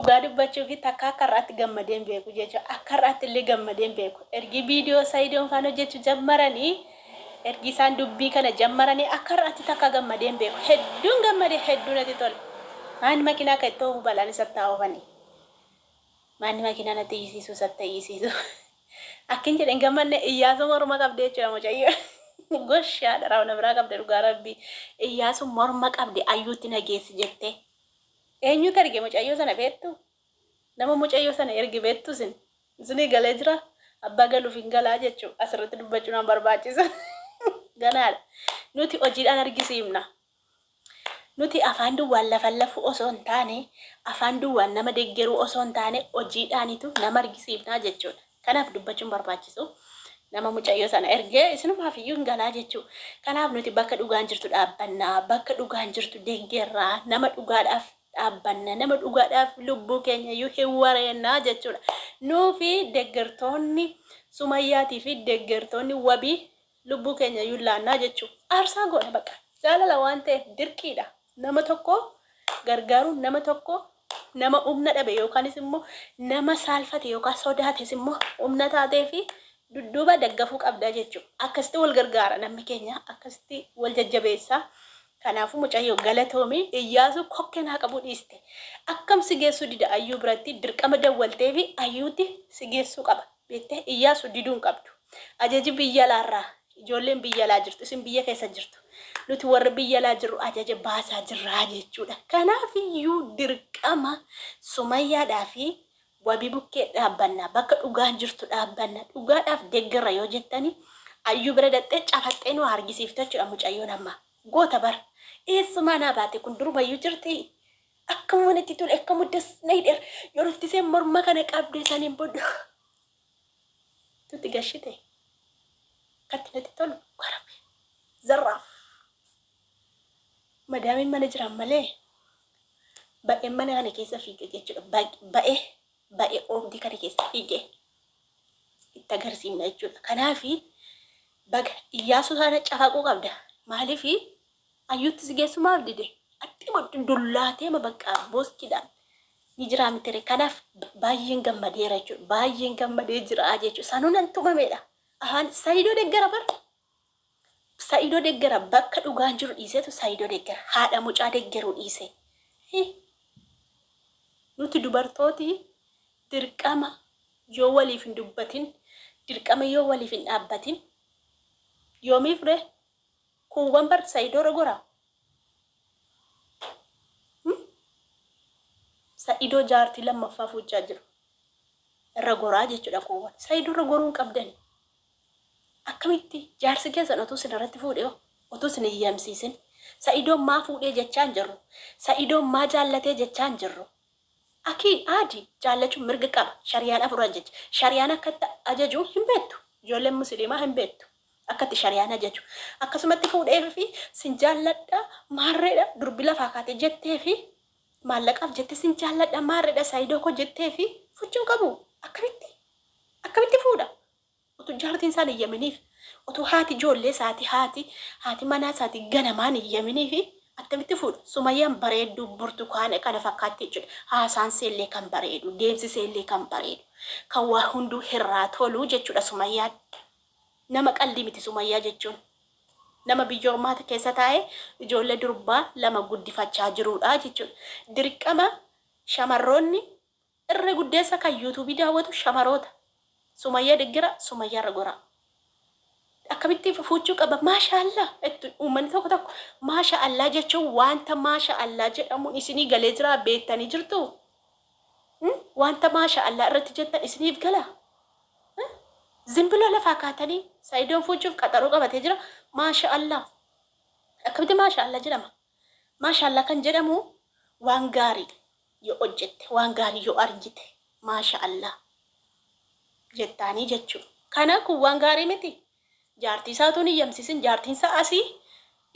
Dhugaa dubbachuufi takka akka har'aatti gammadee hin beeku jechuudha. Akka har'aatti illee gammadee hin beeku. Ergi viidiyoo Sayidoon faan hojjechuu jammaranii, ergi isaan dubbii kana jammaranii akka har'aatti takka gammadee hin beeku. Hedduun gammade, hedduu natti tole. Maanni makiinaa akka itti oofu balaan isatti haa oofani. Maanni makiinaa natti iyyisiisu isatti haa iyyisiisu. Akkin jedhe hin gammanne Iyyaasuu morma qabde jechuudha mucayyoo. Gosh haadha raawna biraa qabde dhugaa rabbii. Iyyaasuu morma qabde ayyuutti na geessi jettee. Eenyutu erge mucayyoo sana beektuu? Nama mucayyoo sana erge beektuu isin? Isinii galee jira? Abbaa galuuf hin galaa jechuu asirratti dubbachuu nan barbaachisu. Ganaadha. Nuti hojiidhaan argisiifna. Nuti afaan duwwaan lafan lafuu osoo hin taane, afaan duwwaan nama deggeruu osoo hin taane hojiidhaanitu nama argisiifnaa jechuudha. Kanaaf dubbachuun barbaachisu nama mucayyoo sana ergee isinumaaf iyyuu hin galaa jechuu. Kanaaf nuti bakka dhugaan jirtu dhaabbanna, bakka dhugaan jirtu deggerra, nama dhugaadhaaf dhaabbanna, nama dhugaadhaaf lubbuu keenya iyyuu hin wareenna jechuudha. Nuufi deggertoonni Sumayyaatii fi deggertoonni wabii Lubbuu keenya iyyuu laanna jechuun aarsaa goona baqa. Jaalala waan ta'eef dirqiidha. Nama tokko gargaaruun nama tokko nama humna dhabe yookaanis immoo nama saalfate yookaan sodaates immoo humna taatee fi dudduuba daggafuu qabda jechuudha. Akkasitti wal gargaara namni keenya akkasitti wal jajjabeessa. Kanaafuu mucayyoo galatoomi Iyyaasuu kokkeen haa qabuu dhiiste akkam si geessuu dida Ayyuu biratti dirqama dawwaltee fi Ayyuutti si geessuu qaba. beekte Iyyaasu diduu hin qabdu. Ajaji biyya alaa irraa ijoolleen biyya alaa jirtu isin biyya keessa jirtu nuti warri biyya alaa jirru ajaja baasaa jirraa jechuudha. Kanaaf iyyuu dirqama Sumayyaadhaa fi Wabii bukkee dhaabbanna bakka dhugaan jirtu dhaabbanna dhugaadhaaf deggerra yoo jettani Ayyuu bira dhaqxee cafaxxee nu hargisiifte jechuudha mucayyoon amma goota bar eessumaa naa baate kun durumayyuu jirtii Akkamuma natti tole akkamu das na hidher yoo dhuftisee morma kana qabde saniin bodda tutti gashite katti natti tolu warabe zarraaf madaamiin mana jiran malee ba'een mana kana keessa fiige jechuudha ba'ee ba'ee oobdii kana keessa fiige itti agarsiifna jechuudha kanaafi baga iyyaasuu sana cafaquu qabda maaliifi Ayyuutti si geessu maaf dide? Attimoo dullaateema bakka booskidhaan ni jiraa mitire kanaaf baay'een gammadeera jechuudha. Baay'een gammadee jira jechuudha. Sanuu nan tumameedha. Ahaan Saidoo deggara bar. Saidoo deggara bakka dhugaan jiru dhiiseetu Saidoo deggara. Haadha mucaa deggeruu dhiise. Hi. Nuti dubartooti dirqama yoo waliif hin dubbatin, dirqama yoo waliif hin dhaabbatin yoomiif ree? Kun wanbar saido dogora Hum saido jaarti lammaffaa fuuchaa jiru irra goraa jechudha kun wan saido irra goruu hin qabdani akkamitti jaarsi keessan otuu sin irratti fuudhe hoo otuu sin hin yamsiisin saidoon maa fuudhee jechaa hin jirru saidoon maa jaallatee jechaa hin jirru Aki Adi jaallachu mirga qaba shariyaan afur ajajji shariyaan akka itti ajaju hin beettu ijoolleen musiliimaa hin beettu akka itti shariyaan ajaju akkasumatti fuudheef fi sin jaalladha maarreedha durbi lafaa kaate jettee fi maallaqaaf jette sin jaalladha maarreedha saidoo koo jettee fi fuchuu hin qabu akkamitti akkamitti fuudha Utuu jaartiin isaa hin iyyaminiif, utuu haati ijoollee isaatii, haati, haati manaa isaatii ganamaa hin iyyaminiif attamitti fuudha? Sumayyaan bareedduu burtukaana kana fakkaatti jechuudha. Haasaan ishee illee kan bareedu, deemsi ishee illee kan bareedu, kan waa hunduu irraa tolu jechuudha Sumayyaan. Nama qaldii miti Sumayyaa jechuun. Nama biyya ormaa keessa taa'ee ijoollee durbaa lama guddifachaa jiruudha jechuudha. Dirqama shamarroonni Irra guddeessa kan youtube daawwatu shamaroota sumayya deggera sumayya irra goraa akkamitti fuuchuu qaba maasha allah jettu uummanni tokko tokko maasha allah jechuun waanta maasha allah jedhamuun isinii galee jiraa beettanii jirtuu waanta maasha allah irratti jettan isiniif galaa zimbilo lafaa kaatanii saidoon fuuchuuf qaxaroo qabatee jira maasha allah akkamitti maasha allah jedhama maasha allah kan jedhamu waan gaariidha yoo hojjette waan gaarii yoo argite maasha allah jettaanii jechuu kana kun waan gaarii miti jaartii isaa utuu hin hiyyamsiisin jaartiin isaa asii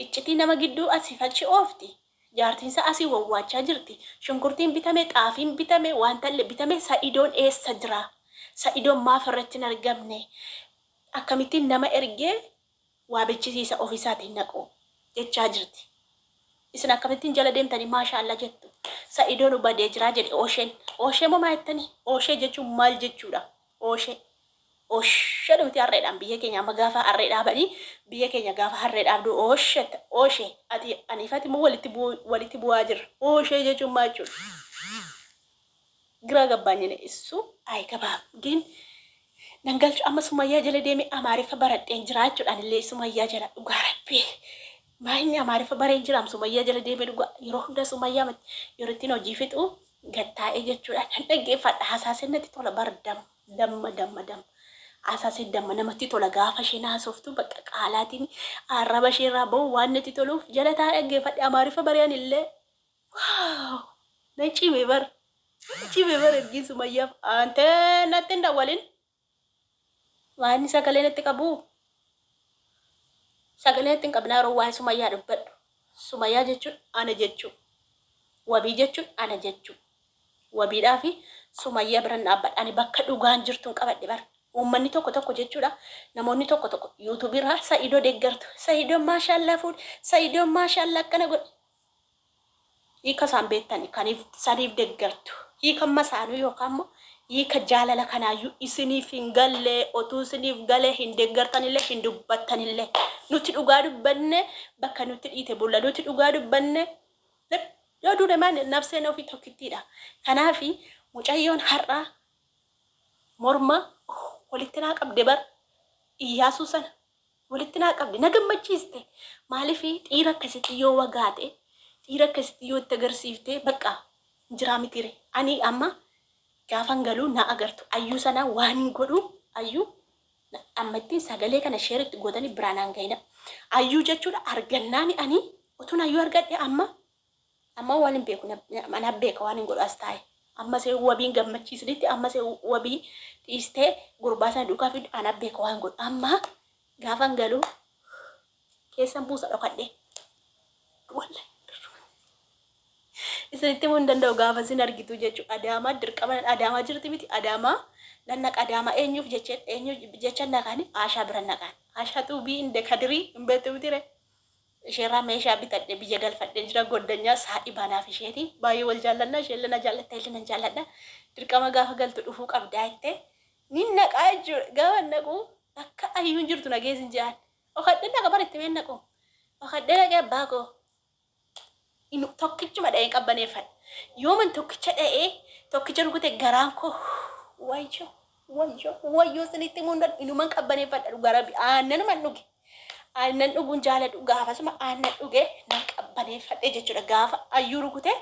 iccitii nama gidduu asiif achi oofti jaartiin isaa asii wawwaachaa jirti shunkurtiin bitame xaafiin bitame waantalle bitame sa'idoon eessa jira sa'idoon maaf irratti hin argamne akkamittiin nama ergee waa bechisiisa ofisaati naqu jechaa jirti isin akkamittin jala demtani maasha alla jettu sa'ido nu badee jiraa jedhe oshen oshee moo maa jettani oshee jechuun maal jechuudha oshee oshe dhumti harreedhaan biyya keenya amma gaafa harree dhaabani biyya keenya gaafa harree dhaabdu oshe oshe ati aniifati moo walitti bu'aa jirra oshee jechuun maa jechuudha Giraa gabbaanyane issu ayi gabaaf gin nan galchu amma sumayyaa jala deeme amaariffa baradheen jira jechuudhaan illee sumayyaa jala dhugaa rabbii maa inni amaariffa bareen jiraam sumayyaa jala deeme dhugaa yeroo hundaa sumayyaa mati yeroo ittiin hojii fixu gattaa'ee jechuudhaan nan dhaggeeffadha hasaaseen natti tola bar dam damma damma damma hasaaseen damma namatti tola gaafa isheen haasoftu bakka qaalaatiin arraba ishee irraa ba'u waan natti toluuf jala taa'ee dhaggeeffadhe amaariffa bareen illee Wow! Nan cibe bar. Nan cibe bar ergiin sumayyaaf aantee natti hin dawwalin. Waan sagalee natti qabu. Sagalee natti hin qabne yeroo waa'ee sumayyaa dubbadhu. Sumayyaa jechuun ana jechuu. Wabii jechuun ana jechuu. Wabiidhaa fi sumayyaa biran dhaabbadha. Ani bakka dhugaan jirtuun qabadhe bar. Uummanni tokko tokko jechuudha. Namoonni tokko tokko yuutuubii irraa sa'idoo deeggartu. Sa'idoon maashaallaa fuudhe. Sa'idoon maashaallaa akkana godhe. Hiika isaan beektani kan isaniif deggertu. Hiika masaanuu yookaan immoo hiika jaalala kanaayyuu isiniif hin galle, otuu isiniif gale hin deggertanillee hin dubbattanillee. Nuti dhugaa dubbanne bakka nutti dhiite bulla. Nuti dhugaa dubbanne yoo duune maal nabseen ofii tokkittiidha. Kanaaf mucayyoon har'a morma walitti naa qabde bar Iyyaasuu sana walitti naa qabde na gammachiiste maaliif dhiira akkasitti yoo wagaate dhiira akkasitti yoo itti agarsiifte bakka hin jiraa mitiire ani amma gaafan galuu na agartu ayyuu sana waan hin godhu ayyuu na- amma itti sagalee kana sheer itti gootanii biraan hangayina ayyuu jechuudha argannaani ani utuun ayyuu argadhe amma Amma waan hin beeku anaaf beeka waan hin godhu as taa'e. Amma see wabiin gammachiisnitti amma see wabii dhiistee gurbaa sana duukaa fiddu anaaf beeka waan hin godhu. Amma gaafa hin galu keessan buusa dhokadhee. Wallahi isinitti himuu hin danda'u gaafa isin argitu jechuudha. Adaamaa dirqama adaamaa jirti miti adaamaa nan naqa adaamaa eenyuuf jecha eenyuuf jecha naqani Aashaa bira naqan. Aashaa xuubii hin dekadirii hin beektu miti ree. isheerraa meeshaa bitadhe biyya galfadhee jira goddanyaa saahibaa naaf isheeti baay'ee wal jaallanna isheelle na jaallatta illee nan jaalladha dirqama gaafa galtu dhufuu qabdaa jette nin naqaa jechuudha gaafa naqu bakka ayyuun jirtu na geessin jedhaan dhokadhee dhaqa bar itti mee naqu dhokadhee dhaqee abbaa koo Inuu tokkichuma dha'een qabbaneeffadhe. Yooman tokkicha dha'ee, tokkicha rukute garaan koo wayyoo, wayyoo, wayyoo isinitti himuu hin danda'u. Inuman qabbaneeffadha dhugaa rabbi. Aannanuman dhuge. Aannan dhuguun jaaladhu. Gaafasuma aannan dhuge nan qabbaneeffadhe jechuudha. Gaafa ayyuu rukute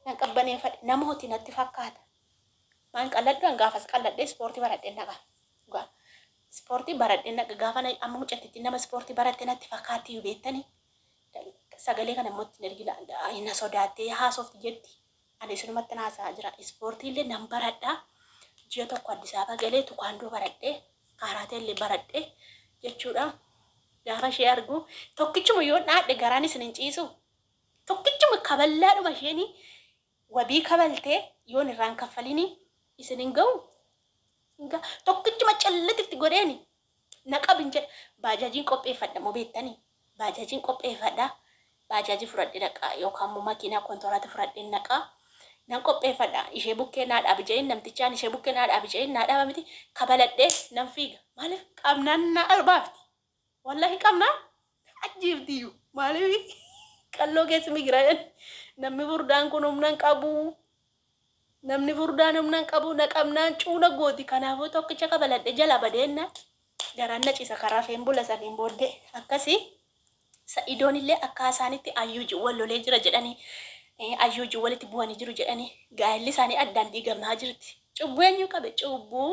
nan qabbaneeffadhe. Namooti natti fakkaata. Maan qalladhu an gaafas qalladhee ispoortii baradheen dhaqa. Dhugaa. Ispoortii baradheen dhaqa. Gaafa na- amma mucattiin nama ispoortii baratte natti fakkaatti iyyuu beektanii. Sagalee kana immoo itti hin ergina. Na sodaattee haasofti jetti. Ani isinumatti haasa'aa jira. Ispoortii illee nan baradha. Ji'a tokko Addis Ababa galee tukaandoo baradhe, kaaraatee illee baradhe jechuudha. Gaafa ishee argu tokkichuma yoo dhaadhe garaan isin hin ciisu. Tokkichuma kaballaadhuma isheen Wabii kabaltee yoon irraa hin kaffalinii isin hin gahuu? Hin gaha. Tokkichuma callit itti godheeni na qabin jedha. Baajaajiin qopheeffadha moo beektanii? Baajaajiin qopheeffadha. Baajaajii fudhadhee dhaqa yookaan immoo makiinaa kontoraata fudhadheen dhaqa. Nan qopheeffadha. Ishee bukkee naa dhaabi jedheen namtichaan ishee bukkee naa dhaabi jedheen naa dhaaba miti kabaladhee nan fiiga. Maaliif qabnaan naa baafti. Wallahi qabna ajjiiftiyyuu maaliif qalloo keessi migira namni furdaan kun humna hin qabu namni furdaan humna hin qabu na qabnaan cuuna gooti kanaafuu tokkicha kabaladhe jala badeenna garaan na cisa karaa feen bula saniin booddee akkasii sa'idoon illee akka isaanitti ayyuuji wal lolee jira jedhanii eh, ayyuuji walitti bu'anii jiru jedhanii gaa'elli isaanii addaan diigamaa jirti cubbuu eenyu qabe cubbuu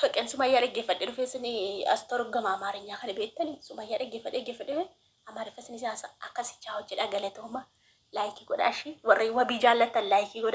Faqeen Sumayyaa dhaggeeffadhe dhufee sini as torgama Amaarinyaa kana beektani Sumayyaa dhaggeeffadhe dhaggeeffadhe Amaariffa sinis akkasichaa hojjedha galatooma laayikii godhaa ishii warri wabii jaallattan laayikii godhaa.